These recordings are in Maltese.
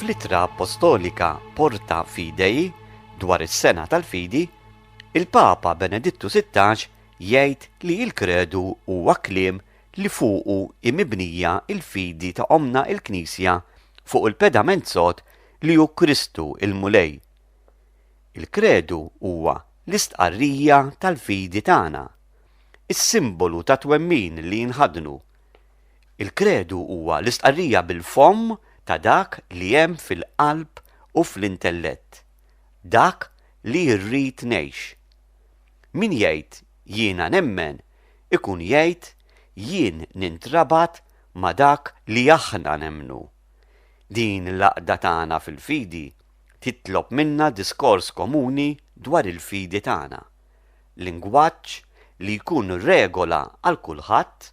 Fl-Ittra Appostolika Porta Fidei dwar is-sena tal-fidi, il-Papa Benedittu 16 jgħid li l-kredu huwa kliem li fuqu hi mibnija l-fidi ta' Ommna l-Knisja fuq il-pedament sod li hu Kristu l-Mulej. Il-Kredu huwa l-istqarrija tal-fidi tagħna, is-simbolu tat-twemmin li nħaddnu. Il-Kredu huwa l-istqarrija bil-fomm ta' dak li hemm fil-qalb u fl-intellett, dak li rrid ngħix. Min jgħid jiena nemmen ikun jgħid jien nintrabat ma' dak li aħna nemmnu. Din l-għaqda tagħna fil-fidi titlob minna diskors komuni dwar il-fidi tagħna, lingwaġġ li jkun regola għal kulħadd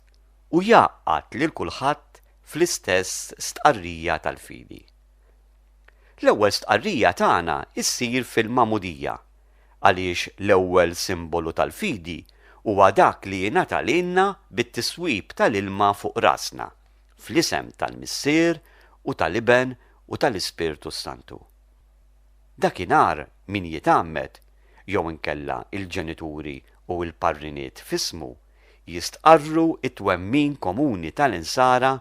u jgħaqqad lil kulħadd fl-istess stqarrija tal-fidi. L-ewwel stqarrija tagħna ssir fil-Magħmudija għaliex l-ewwel simbolu tal-fidi huwa dak li jingħata lilna bit-tiswib tal-ilma fuq rasna, Fl-isem tal-Missier u tal-Iben u tal-Ispirtu s-Santu. Dakinhar min jitgħammed, jew inkella il-ġenituri u l-parriniet f'ismu, jistqarru t-twemmin komuni tal-Insara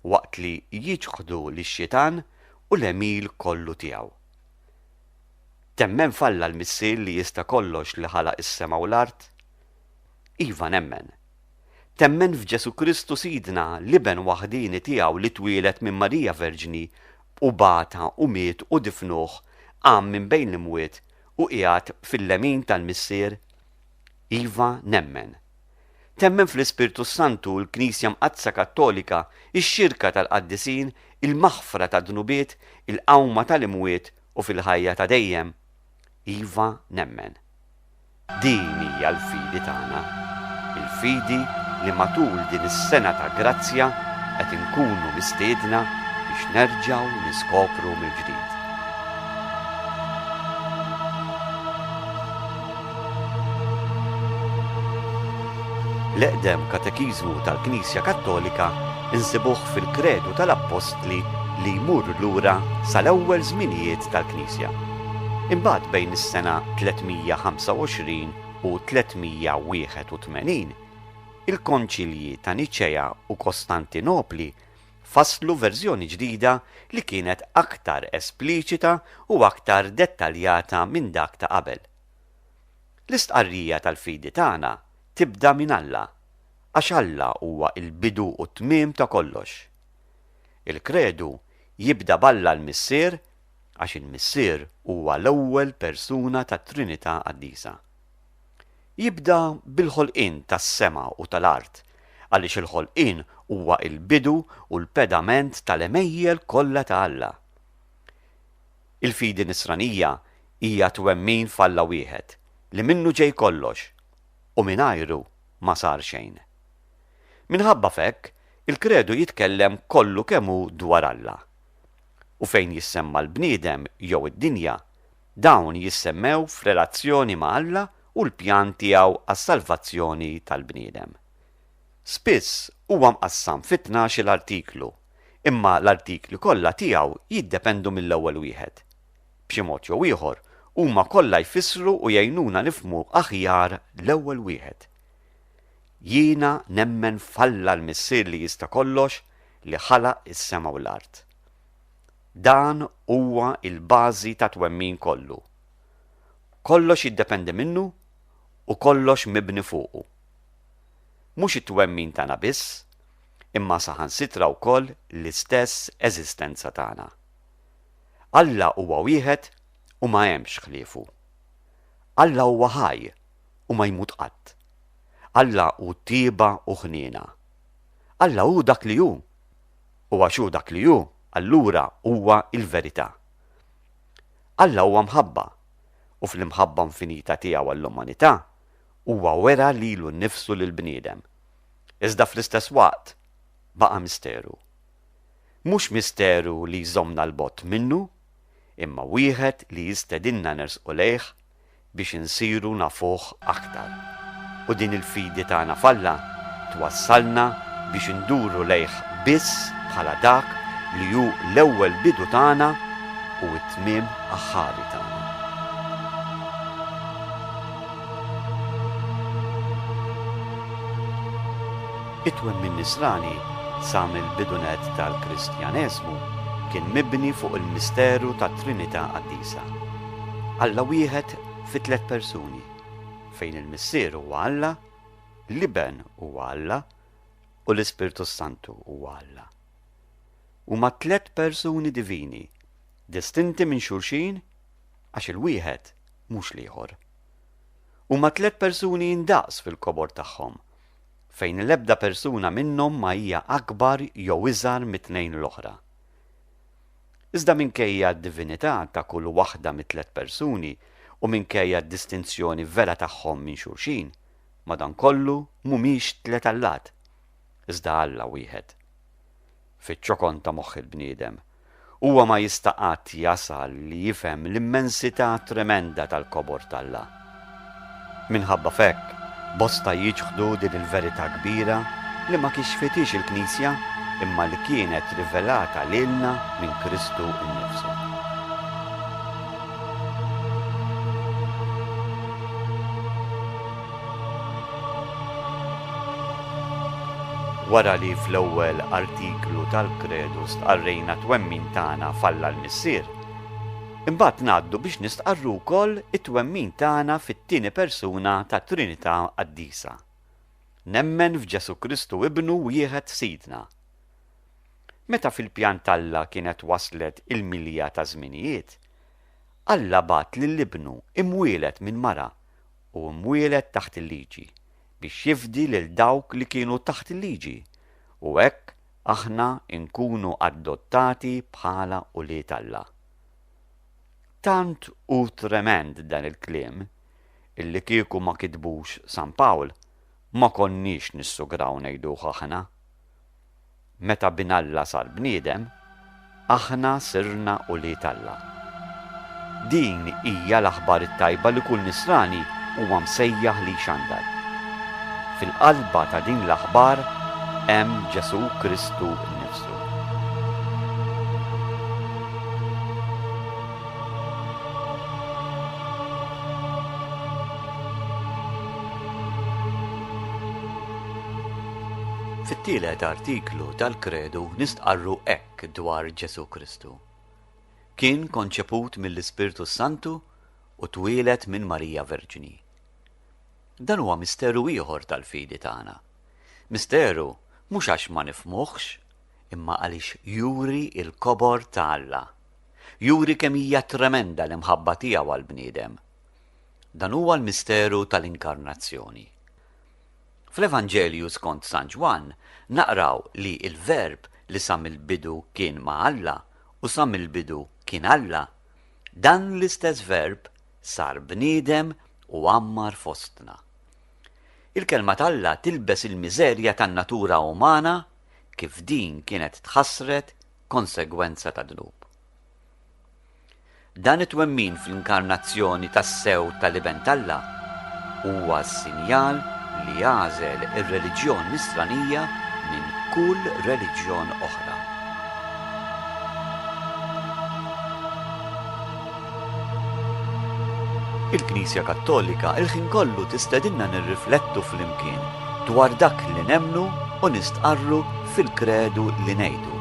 waqt li jiċħdu lix-xitan u l-għemil kollu tiegħu. Temmen f'Alla l-Missier li jista' kollox li ħalaq is-sema u l-art? Iva nemmen. Temmen f'Ġesù Kristu Sidna, l-Iben waħdieni tiegħu li twieled minn Marija Verġni u bata u miet u difnuh, qam minn bejn l-imwiet u qiegħed fil-lemin tal-Missier? Iva, nemmen. Temmen fl-Ispirtu s-Santu, l-Knisja Mqaddsa Kattolika, ix-xirka tal-qaddisin, il-maħfra tad-dnubiet, il-qawma tal-imwiet u fil-ħajja ta' dejjem? Iva, nemmen. Din hija l-fidi tagħna, il-fidi li matul din is-sena ta' grazzja qed inkunu mistiedna biex nerġgħu niskopru mill-ġdid. L-eqdem katekiżmu tal-Knisja Kattolika nsibuh fil-Kredu tal-Appostli li jmur lura sal-ewwel żminijiet tal-Knisja. Imbagħad bejn is-sena 325 u 381, il-Konċilji ta' Niċea u Kostantinopli fasslu verżjoni ġdida li kienet aktar espliċita u aktar dettaljata minn dak ta' qabel. L-istqarrija tal-fidi tagħna tibda minn Alla, għax Alla huwa l-bidu u t-tmiem ta' kollox. Il-Kredu jibda b'Alla l-Missier għax il-Missier huwa l-ewwel persuna tat-Trinità Qaddisa. Jibda bil-ħolqien tas-sema u tal-art, għaliex il-ħolqien huwa l-bidu u l-pedament tal-għemejjel kollha ta' Alla. Il-fidi Nisranija hija twemmin f'Alla wieħed, li minnu ġej kollox, u mingħajru ma sar xejn. Minħabba f'hekk, il-Kredu jitkellem kollu kemm hu dwar Alla. u fejn jissemma l-bniedem jew id-dinja, dawn jissemmew f'relazzjoni ma' Alla u l-pjan tiegħu għas-salvazzjoni tal-bniedem. Spiss huwa mqassam fi tnax-il artiklu, imma l-artikli kollha tiegħu jiddependu mill-ewwel wieħed. B'xi mod jew ieħor, huma kollha jfissru u jgħinuna nifhmu aħjar l-ewwel wieħed. Jiena nemmen f'Alla l-Missier li jista' kollox, li ħalaq is-sema u l-art. Dan huwa l-bażi tat-twemmin kollu. Kollox jiddependi minnu u kollox mibni fuqu. Mhux it-twemmin tagħna biss, imma saħansitra wkoll l-istess eżistenza tagħna. Alla huwa wieħed u ma hemmx ħliefu. Alla huwa ħaj u ma jmut qatt. Alla hu tjieba u ħniena. Alla hu dak li hu, u għax hu dak li hu, allura huwa l-verità. Alla huwa mħabba, u fl-imħabba infinita tiegħu għall-umanità, huwa wera lilu nnifsu lill-bniedem. Iżda fl-istess waqt baqa' misteru. Mhux misteru li jżommna 'l bogħod minnu, imma wieħed li jistedinna nersqu lejh, biex insiru nafuh aktar. U din il-fidi tagħna f'Alla twassalna biex induru lejh biss bħala dak li hu l-ewwel bidu tagħna u t-tmiem aħħari tagħna. It-twemmin Nisrani sa mill-bidu nett tal-Kristjaneżmu kien mibni fuq il-misteru tat-Trinità Qaddisa. Alla wieħed fi tliet persuni, fejn il-Missier huwa Alla, l-Iben huwa Alla, u l-Ispirtu s-Santu huwa Alla. Huma tliet persuni divini, distinti minn xulxin għax il-wieħed mhux l-ieħor. Huma tliet persuni indaqs fil-kobor tagħhom, fejn l-ebda persuna minnhom ma hija akbar jew iżgħar mit-tnejn l-oħra. Iżda minkejja d-divinità ta' kull waħda mit-tliet persuni u minkejja d-distinzjoni vera tagħhom minn xulxin, madankollu mhumiex tliet allat, iżda Alla wieħed. Fiċ-ċokon ta' moħħ il-bniedem, huwa ma jista' qatt jasal li jifhem l-immensità tremenda tal-kobor t'Alla. Minħabba f'hekk, bosta jiċħdu din il-verità kbira li ma kixfithiex il-Knisja imma li kienet rivelata lilna minn Kristu nnifsu. Wara li fl-ewwel artiklu tal-Kredu stqarrejna t-twemmin tagħna f'Alla l-Missier, Imbagħad ngħaddu biex nistqarru wkoll it-twemmin tagħna fit-tieni persuna tat-Trinità Qaddisa, Nemmen f'Ġesù Kristu Ibnu wieħed Sidna. Meta fil-pjan t'Alla kienet waslet il-milja taż-żminijiet, Alla bagħat lil Ibnu imwieled minn mara u mwieled taħt il-Liġi biex jifdi lil dawk li kienu taħt il-Liġi u hekk aħna nkunu adottati bħala ulied Alla. Tant hu tremend dan il-kliem illi kieku ma kitbux San Pawl ma konniex nissugraw ngħiduh aħna. Meta Bin Alla sar bniedem, Aħna sirna ulied Alla. Din hija l-aħbar it-tajba li kull Nisrani huwa msejjaħ li jxandar. Fil-qalba ta' din l-aħbar hemm Ġesù Kristu nnifsu. Fit-tielet artiklu tal-Kredu nistqarru hekk dwar Ġesù Kristu, Kien konċeput mill-Ispirtu s-Santu u twieled minn Marija Verġni. Dan huwa misteru ieħor tal-fidi tagħna. Misteru mhux għax ma nifhmuhx, imma għaliex juri l-kobor ta' Alla. Juri kemm hija tremenda l-imħabba tiegħu għall-bniedem. Dan huwa l-misteru tal-Inkarnazzjoni. Fl-Evanġelju skont San Ġwann naqraw li l-Verb li sa mill-bidu kien ma' Alla u sa mill-bidu kien Alla, dan l-istess Verb sar bniedem u għammar fostna. Il-Kelma t'Alla tilbes il-miżerja tan-natura umana kif din kienet tħassret konsegwenza tad-dnub. Dan it-twemmin fl-inkarnazzjoni tassew tal-Iben t'Alla huwa s-sinjal li għażel ir-reliġjon Nisranija minn kull reliġjon oħra. Il-Knisja Kattolika il-ħin kollu tistedinna nirriflettu flimkien dwar dak li nemmnu u nistqarru fil-kredu li ngħidu.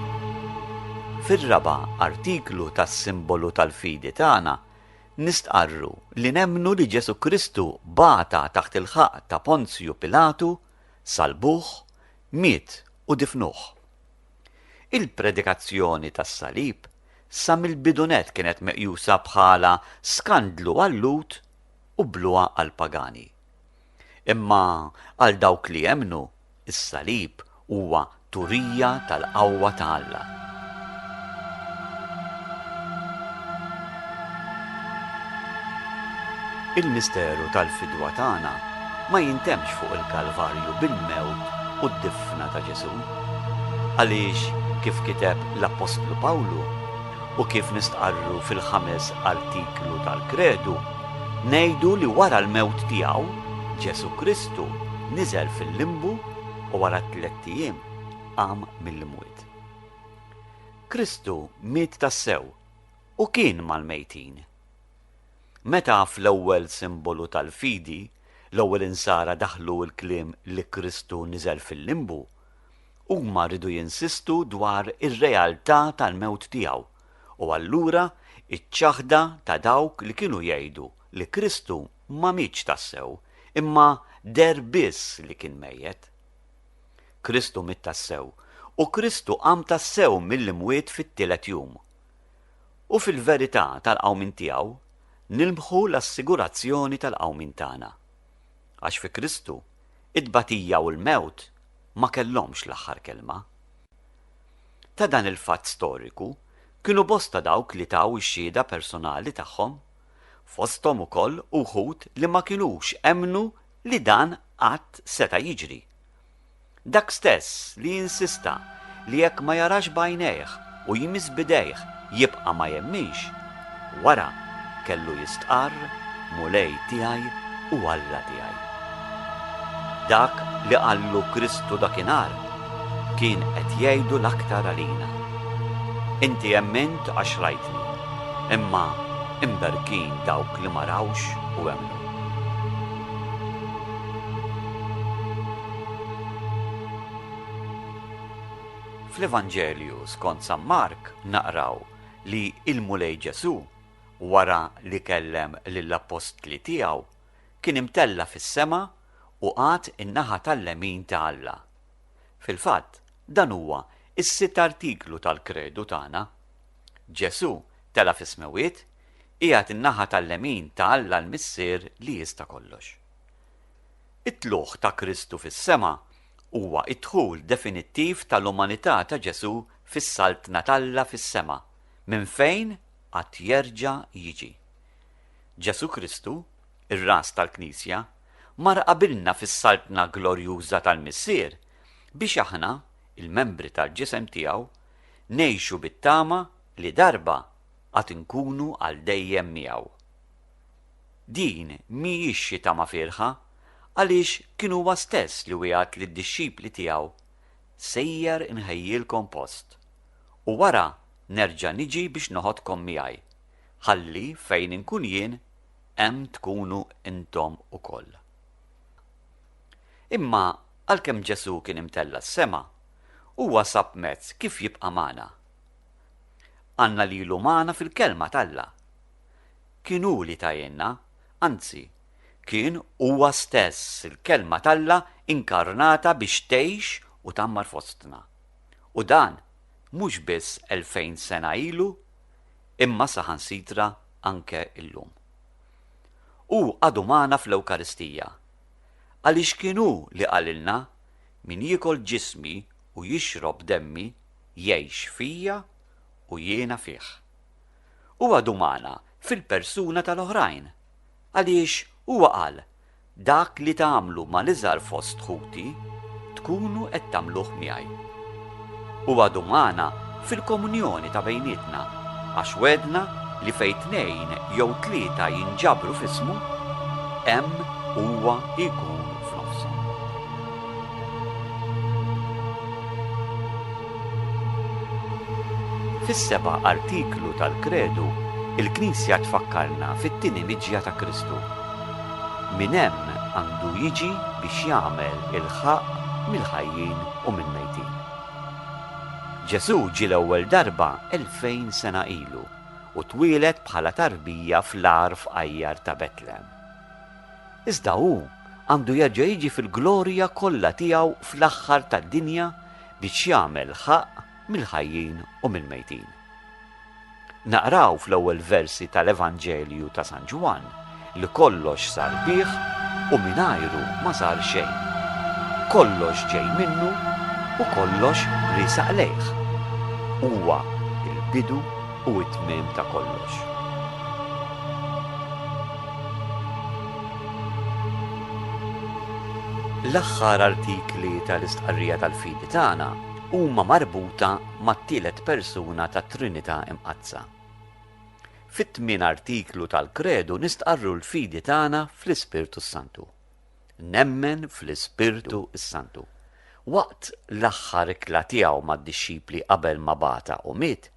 Fir-raba' artiklu tas-Simbolu tal-Fidi tagħna nistqarru li nemmnu li Ġesù Kristu bata taħt il-ħaqq ta' Ponzju Pilatu, salbuh, miet u difnuh. Il-predikazzjoni tas-salib sa mill-bidunett kienet meqjusa bħala skandlu għal-Lhud u bluha għall-pagani. Imma għal dawk li jemmnu, is-salib huwa turija tal-qawwa ta' Alla. Il-misteru tal-fidwa tagħna ma jintemmx fuq il-Kalvarju bil-mewt u d-difna ta' Ġesù. Għaliex, kif kiteb l-appostlu Pawlu u kif nistqarru fil-ħames artiklu tal-Kredu, Ngħidu li wara l-mewt tiegħu, Ġesù Kristu niżel fil-limbu u wara t-tlett ijiem qam mill-imwiet. Kristu miet tassew u kien mal-mejtin. Meta fl-ewwel simbolu tal-fidi l-ewwel insara daħħlu l-kliem li Kristu niżel fil-limbu, huma riedu jinsistu dwar ir-realtà tal-mewt tiegħu. u allura iċ-ċaħda ta' dawk li kienu jgħidu li Kristu ma mietx tassew imma deher biss li kien mejjet. Kristu miet tassew u Kristu qam tassew mill-imwiet fit-tielet jum. U fil-verità tal-qawmien tiegħu nilmħu l-assigurazzjoni tal-qawmien tagħna. Għax fi Kristu, it-tbatija u l-mewt ma kellhomx l-aħħar kelma. ta' dan il-fatt storiku kienu bosta dawk li taw ix-xhieda personali tagħhom, fosthom ukoll uħud li ma kinux emmnu li dan qatt seta' jiġri. Dak stess li insista li jekk ma jarax b'għajnejh u jmiss b'idejh Jibqa' ma jemminx, wara kellu jistqarr, Mulej tiegħi u Alla tiegħi. Dak li qallu Kristu dakinhar kien qed jgħidu l-aktar għalina. Inti emmint għax rajtni, imma imberkin dawk li ma rawx u emmnu. Fl-Evanġelju skont San Mark naqraw li l-Mulej Ġesù, wara li kellem lill-appostli tiegħu, kien imtella' fis-sema u qagħad in-naħa tal-lemin ta' Alla. Fil-fatt, dan huwa s-sitt artiklu tal-Kredu tagħna. Ġesù tela' fis-smewwiet, qiegħed in-naħa tal-lemin ta' Alla l-Missier li jista' kollox. It-tlugħ ta' Kristu fis-sema Huwa d-dħul definittiv tal-umanità ta' Ġesù fis-Saltna t'Alla fis-sema, minn fejn għad jerġa' jiġi. Ġesù Kristu, ir-Ras tal-Knisja, mar qabilna fis-Saltna glorjuża tal-Missier biex aħna, il-membri tal-Ġisem tiegħu, ngħixu bit-tama li darba għad inkunu għal dejjem miegħu. Din mhijiex xi tama fierħa, għaliex kien huwa stess li wiegħed lid-dixxipli tiegħu, Sejjer inħejjilkom post, u wara nerġa' niġi biex noħodkom miegħi, ħalli fejn inkun jien, hemm tkunu intom ukoll. Imma għalkemm Ġesù kien imtella' s-sema, huwa sab mezz kif jibqa' magħna. Għandna lilu magħna fil-Kelma t'Alla. Kien hu li ta għinna, anzi, kien huwa stess il-Kelma t'Alla inkarnata biex tgħix u tgħammar fostna. U dan mhux biss elfejn sena ilu, imma saħansitra anke llum. Hu għadu magħna fl-Ewkaristija, għaliex kien hu li qalilna, Min jiekol ġismi u jixrob demmi jgħix fija u jiena fih. Huwa dumana fil-persuna tal-oħrajn, għaliex huwa qal, Dak li tagħmlu mal-iżgħar fost ħuti, tkunu qed tagħmluh miegħi. Huwa dumana fil-komunjoni ta' bejnietna, għax wegħedna li fejn tnejn jew tlieta jinġabru f'ismu, hemm huwa jkun f'nofshom. Fis-seba' artiklu tal-Kredu, il-Knisja tfakkarna fit-tieni miġja ta' Kristu. Min hemm għandu jiġi biex jagħmel il-ħaqq mill-ħajjin u mill-mejtin. Ġesù ġie l-ewwel darba elfejn sena ilu u twieled bħala tarbija fl-agħar fqajjar ta' Betlehem. Iżda hu għandu jerġa' jiġi fil-glorja kollha tiegħu fl-aħħar tad-dinja biex jagħmel ħaqq mill-ħajjin u mill-mejtin. Naqraw fl-ewwel versi tal-Evanġelju ta' San Ġwann li kollox sar bih u mingħajru ma sar xejn. Kollox ġej minnu u kollox riesaq lejh. Huwa il-bidu u t-tmiem ta' kollox. L-aħħar artikli tal-istqarrija tal-fidi tagħna huma marbuta mat-tielet persuna tat-Trinità Imqaddsa. Fit-tmien artiklu tal-Kredu nistqarru l-fidi tagħna fl-Ispirtu s-Santu. Nemmen fl-Ispirtu s-Santu. Waqt l-aħħar ikla tiegħu mad-dixxipli qabel ma bagħatha u miet,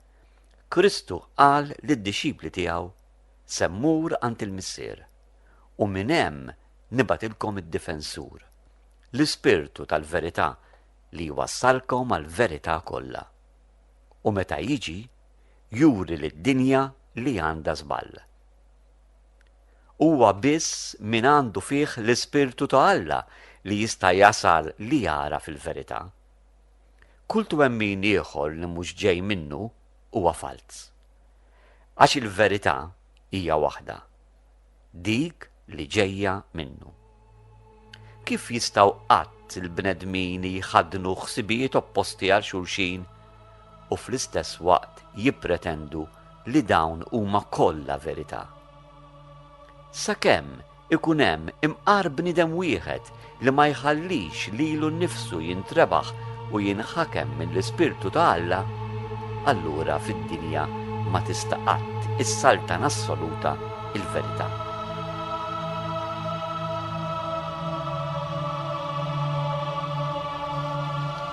Kristu qal lid-dixxipli tiegħu, Se mmur għand il-Missier. u minn hemm nibgħatilkom id-Difensur, l-Ispirtu tal-verità li jwassalkom għall-verità kollha. U meta jiġi, juri lid-dinja li għandha żball. Huwa biss min għandu fih l-Ispirtu ta' Alla li jista' jasal li jagħraf il-verità. Kull twemmin ieħor li mhux ġej minnu huwa falz. Għax il-verità hija waħda, dik li ġejja minnu. Kif jistgħu qatt il-bnedmin jħaddnu ħsibijiet opposti għal xulxin u fl-istess waqt jippretendu li dawn huma kollha verità? Sakemm Ikun hemm imqar bniedem wieħed li ma jħallix lilu nnifsu jintrebaħ u jinħakem mill-Ispirtu ta' Alla, allura fid-dinja ma tista' qatt issaltan assoluta l-verità.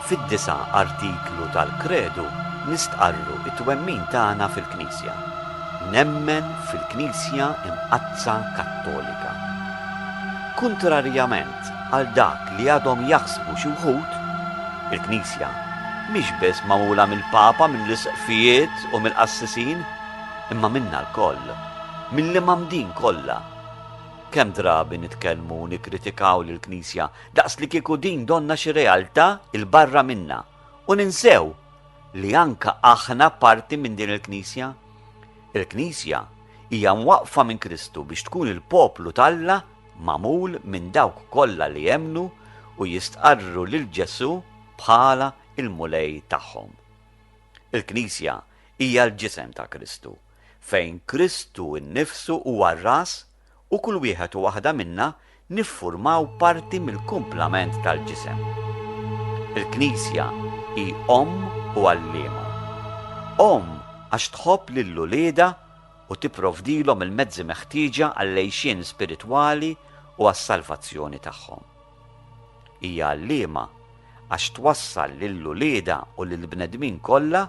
Fid-disa' artiklu tal-Kredu nistqarru t-twemmin tagħna fil-Knisja. Knisja. Nemmen fil-Knisja Imqaddsa Kattolika. Kuntrarjament għal dak li għadhom jaħsbu xi wħud, il-Knisja mhix biss magħmula mill-Papa, mill-Isqfijiet u mill-qassisin, imma minna lkoll, mill-imgħammdin kollha. Kemm drabi nitkellmu u nikkritikaw lill-Knisja daqs li kieku din donnha xi realtà 'l barra minna u ninsew li anke aħna parti minn din il-Knisja. Il-Knisja hija mwaqqfa minn Kristu biex tkun il-poplu t'Alla magħmul minn dawk kollha li jemmnu u jistqarru lil Ġesù bħala l-Mulej tagħhom. Il-Knisja hija l-ġisem ta' Kristu, fejn Kristu nnifsu huwa r-ras u kull wieħed u waħda minna niffurmaw parti mill-kumplament tal-ġisem. Il-Knisja hi omm u għalliema. Omm għax tħobb lil uliedha u tipprovdilhom il-mezzi meħtieġa għall-għixien spiritwali u għas-salvazzjoni tagħhom. Hija għalliema għax twassal lil uliedha u lill-bnedmin kollha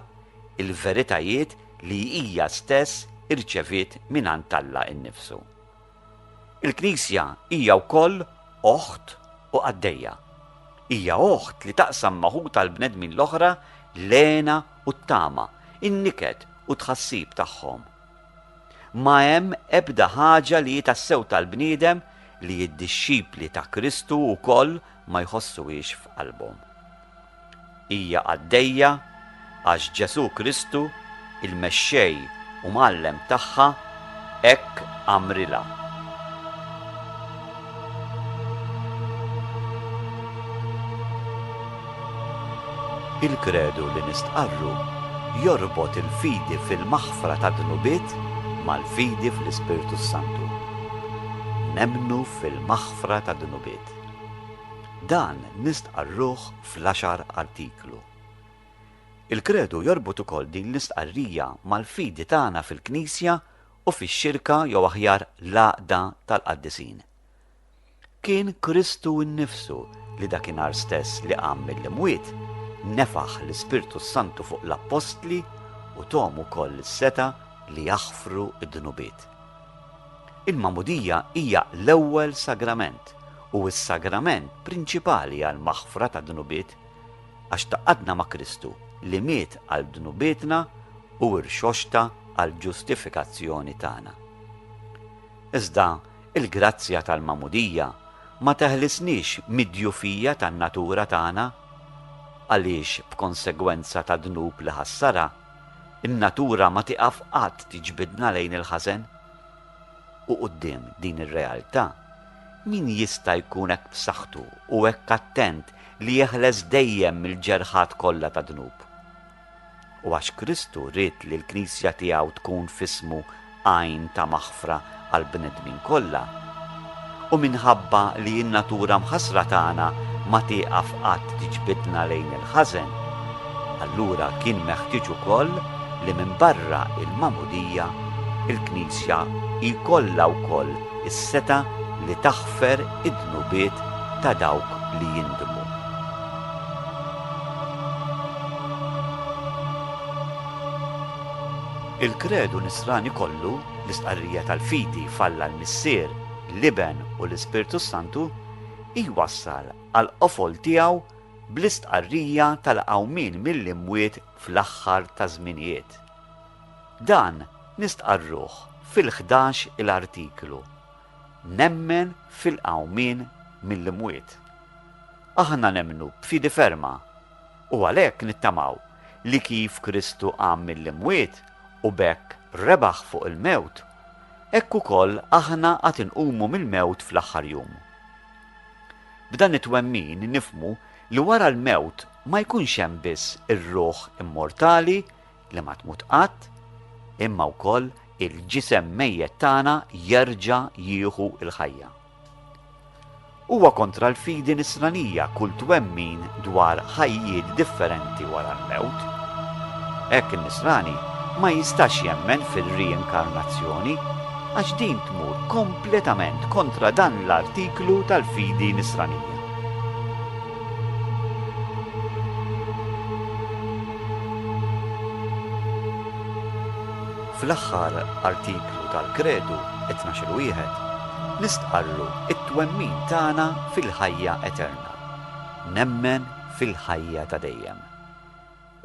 il-veritajiet li hija stess irċeviet mingħand Alla nnifsu. Il-Knisja hija wkoll oħt u qaddejja. Hija oħt li taqsam ma' ħutha l-bnedmin l-oħra l-hena u t-tama, in-niket u t-tħassib tagħhom. Ma hemm ebda ħaġa li hi tassew tal-bniedem li d-dixxipli ta' Kristu wkoll ma jħossuhiex f'qalbhom. Hija għaddejja għax Ġesù Kristu, il-Mexxej u Mgħallem tagħha, hekk għamrilha. Il-kredu li nistqarru jorbot il-fidi fil-maħfra tad-dnubiet mal-fidi fl-Ispirtu s-Santu. Nemmnu fil-maħfra tad-dnubiet. Dan nistqarruh fl-għaxar artiklu. Il-kredu jorbot ukoll din l-istqarrija mal-fidi tagħna fil-Knisja u fix-xirka jew aħjar l-għaqda tal-qaddisin. Kien Kristu nnifsu li dakinhar stess li qam mill-imwiet, nefaħ l-Ispirtu s-Santu fuq l-appostli u thom ukoll is-setgħa li jaħfru d-dnubiet. Il-magħmudija hija l-ewwel sagrament u s-sagrament prinċipali għall-maħfra tad-dnubiet, għax taqgħadna ma' Kristu li miet għal dnubietna u rxoxta għall-ġustifikazzjoni tagħna. Iżda l-grazzja tal-magħmudija ma teħlisniex mid-djufija tan-natura tagħna, għaliex b'konsegwenza tad-dnub li ħassarha, in-natura ma tieqaf qatt tiġbidna lejn il-ħażen. U quddiem din ir-realtà, min jista' jkun hekk b'saħħtu u hekk attent li jeħles dejjem mill-ġerħat kollha ta' dnub? U għax Kristu ried li l-Knisja tiegħu tkun f'ismu għajn ta' maħfra għall-bnedmin kollha, U minħabba li n-natura mħassra tagħna ma tieqaf qatt tiġbidna lejn il-ħażen, allura kien meħtieġ ukoll li minbarra l-Magħmudija, il-Knisja jkollha wkoll is-setgħa li taħfer id-dnubiet ta' dawk li jindmu. Il-Kredu Nisrani kollu L-istqarrija tal-fidi f'Alla l-Missier, l-Iben u l-Ispirtu s-Santu jwassal għall-qofol tiegħu bl-istqarrija tal-qawmien mill-imwiet fl-aħħar taż-żminijiet. Dan nistqarruh fil-ħdax il artiklu, Nemmen fil-qawmien mill-imwiet. Aħna nemmnu b'fidi ferma u għalhekk nittamaw li kif Kristu qam mill-imwiet, u b'hekk rebaħ fuq il-mewt, hekk ukoll aħna għad inqumu mill-mewt fl-aħħar jum. B'dan it-twemmin nifhmu li wara l-mewt ma jkunx hemm biss ir-ruħ immortali li ma tmut qatt, imma wkoll il-ġisem mejjet tagħna jerġa' jieħu l-ħajja. Huwa kontra l-fidi nisranija kull twemmin dwar ħajjiet differenti wara l-mewt. Hekk in-nisrani ma jistax jemmen fir-riinkarnazzjoni għax din tmur kompletament kontra dan l-artiklu tal-fidi nisranija. Fl-aħħar artiklu tal-Kredu, it-Tnax-il Wieħed, nistqarru t-twemmin tagħna fil-ħajja eterna, Nemmen fil-ħajja ta' dejjem.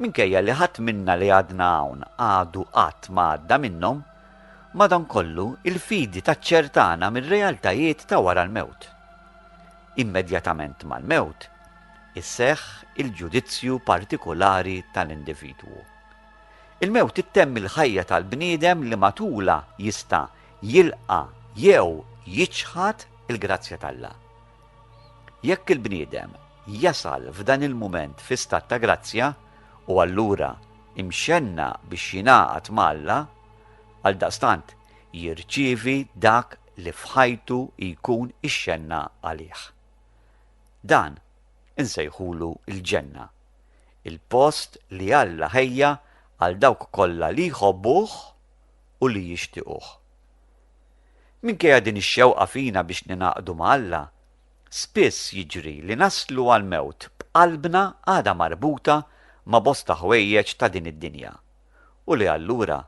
Minkejja li ħadd minna li għadna hawn għadu qatt ma għadda minnhom, madankollu l-fidi taċċertana mir-realtajiet ta' wara l-mewt. Immedjatament mal-mewt, iseħħ il-ġudizzju partikulari tal-individwu. Il-mewt ittemmi l-ħajja tal-bniedem li matulha jista' jilqa' jew jiċħad il-grazzja t'Alla. Jekk il-bniedem jasal f'dan il-mument fi stat ta' grazzja, hu allura imxenna biex jingħaqad ma' Alla, għaldaqstant jirċievi dak li f'ħajtu jkun ixxenna għalih. Dan insejħulu l-ġenna il-post li Alla ħejja għal dawk kollha li jħobbuh u li jixtiequh. Minkejja din ix-xewqa fina biex ningħaqdu ma' Alla, spiss jiġri li naslu għall-mewt b'qalbna għadha marbuta ma' bosta ħwejjeġ ta' din id-dinja, u li allura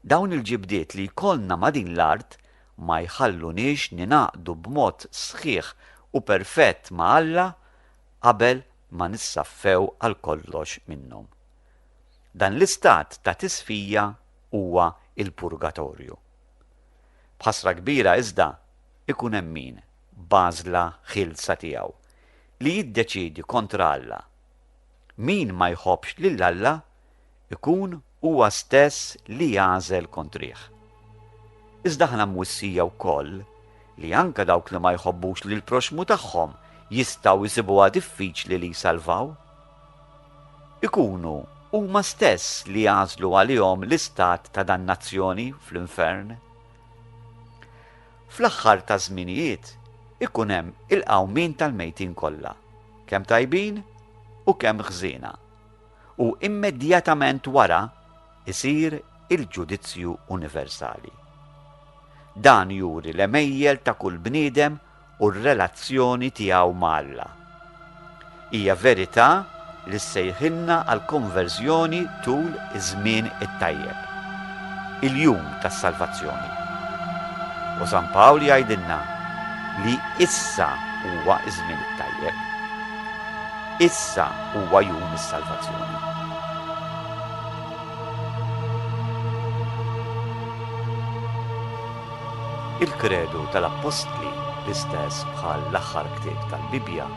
dawn il-ġibdiet li jkollna ma' din l-art ma jħalluniex ningħaqdu b'mod sħiħ u perfett ma' Alla qabel ma nissaffew għal kollox minnhom. Dan l-istat ta' tisfija huwa l-purgatorju. B'ħasra kbira iżda, ikun hemm min, b'għażla ħielsa tiegħu, li jiddeċiedi kontra Alla. Min ma jħobbx lil Alla ikun Huwa stess li jagħżel kontrih. Iżda aħna mwissija wkoll li anke dawk li ma jħobbux lill-proxxmu tagħhom jistgħu jsibuha diffiċli li jsalvaw. Ikunu huma stess li jagħżlu għalihom l-istat ta' dannazzjoni fl-infern. Fl-aħħar taż-żminijiet ikun hemm il-qawmien tal-mejtin kollha, kemm tajbin u kemm ħżiena. u immedjatament wara jsir il-ġudizzju universali. Dan juri l-għemejjel ta' kull bniedem u r-relazzjoni tiegħu ma' Alla. Hija verità li ssejħilna għall-konverżjoni tul iż-żmien it-tajjeb, il-jum tas-salvazzjoni. U San Pawl jgħidilna li issa huwa ż-żmien it-tajjeb. Issa huwa jum is-salvazzjoni. Il-kredu tal-appostli, l-istess bħal l-aħħar ktieb tal-Bibbja,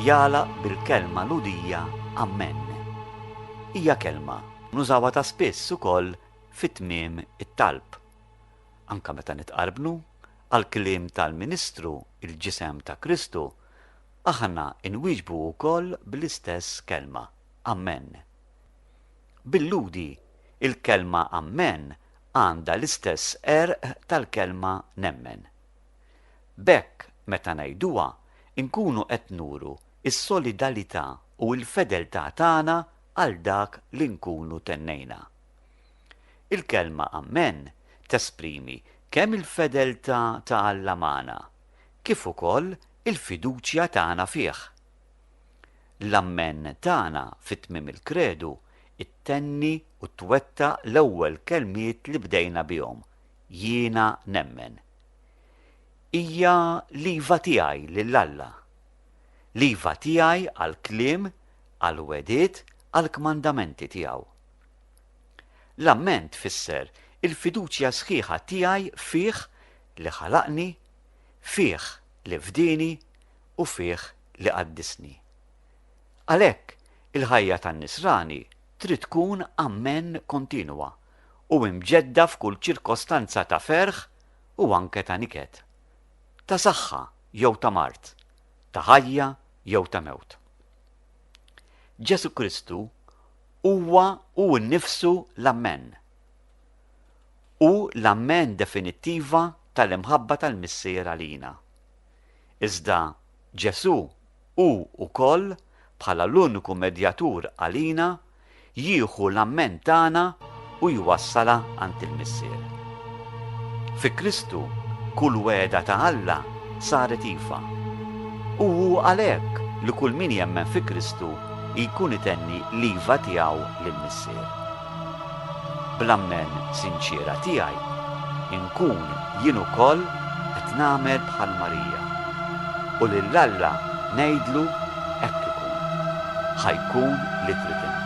jagħlaq bil-kelma ludija Amen. Hija kelma nużawha ta' spiss ukoll fit-tmiem it-talb. Anka meta nitqarbnu għall-kliem tal-Ministru il-ġisem ta' Kristu, Aħna nwieġbu wkoll bl-istess kelma, Amen. Bil-Lhudi, il-kelma Amen għandha l-istess għerq tal-kelma nemmen. B'hekk, meta ngħiduha, inkunu qed nuru s-solidalità u l-fedeltà tagħna għal dak li nkunu tennejna. Il-kelma Amen tesprimi kemm il-fedeltà ta' Alla magħna, kif ukoll Il-fiduċja tagħna fih. L-Ammen tagħna fi tmiem il-Kredu ttenni u twettaq l-ewwel kelmiet li bdejna bihom, Jiena nemmen. Hija l-iva tiegħi lil Alla. L-iva tiegħi għall-kliem, għall-wegħdiet, għall-kmandamenti tiegħu. L-Ammen tfisser il-fiduċja sħiħa tiegħi fih li ħalaqni, fih li fdini u fih li qaddisni. Għalhekk, il-ħajja tan-nisrani trid tkun ammen kontinwa u imġedda f'kull ċirkostanza ta' ferħ u anke ta' niket, ta' saħħa jew ta' mard, ta' ħajja jew ta' mewt. Ġesù Kristu huwa hu nnifsu l-ammen. Hu l-ammen definittiva tal-imħabba tal-Missier għalina. Iżda Ġesù hu wkoll, bħala l-uniku medjatur għalina, jieħu l-ammen tagħna u jwassalha għand il-Missier. Fi Kristu kull wegħda ta' Alla saret iva. U hu għalhekk li kull min jemmen fi Kristu jkun itenni l-iva tiegħu lill-Missier. Bl-ammen sinċiera tiegħi, inkun jien ukoll qed nagħmel bħal Marija, u lil Alla ngħidlu hekk ikun, ħa jkun li trid int.